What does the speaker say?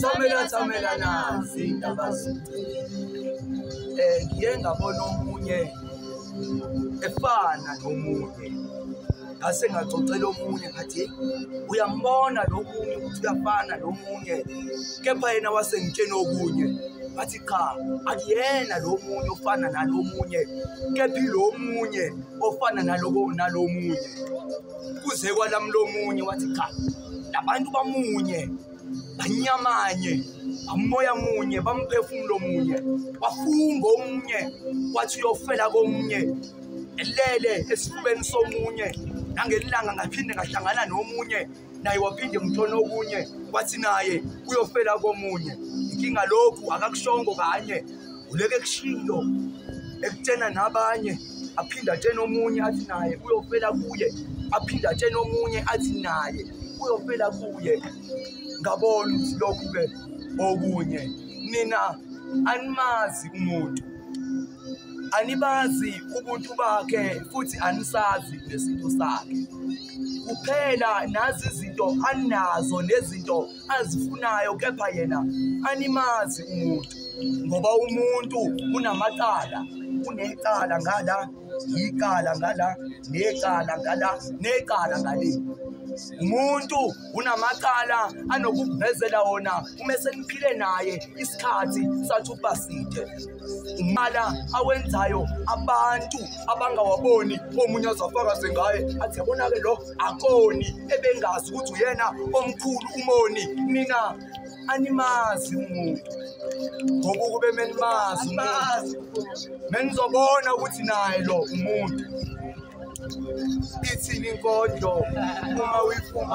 thomela thomela nazi indaba um eh, ngiye ngabona omunye efana nomunye ngase ngaxoxela omunye ngathi uyambona lo munye ukuthi uyafana lo munye kepha yena wasengitsheni okunye bathi cha akuyena lo munye ofana nalo munye kepha ilo munye ofana nalomunye kuze kwalamlomunye wathi cha labantu bamunye banyamanye amoya munye bamphefumulo munye wafunga omunye wathi uyofela komunye elele esifubeni somunye nangelilanga ngaphinde ngahlangana nomunye naye waphinde mthona okunye wathi naye uyofela komunye inkinga lokhu akakushongo kanye uleke kushiyo ekutshena nabanye aphinde atshene omunye athi naye uyofela kuye aphinde atshene omunye athi naye uyofela kuye ngabona ukuthi lokhu-ke okunye nina animazi umuntu anibazi ubuntu bakhe futhi anisazi nesintu sakhe kuphela nazi izinto anazo nezinto azifunayo kepha yena animazi umuntu ngoba umuntu unamacala unecala ngala yicala ngala necala ngala necala ngale umuntu unamacala anokukuvezela wona uma seniphile naye isikhathi sathi ukuba side umala awenzayo abantu abangawaboni omunye azafakaze ngaye athi yabona-ke lo akoni ebengazi ukuthi uyena omkhulu umoni nina animazi umuntu ngoba ukube menimazi umuntu menizobona ukuthi naye lo umuntu ithini inkondlo uma uyifuma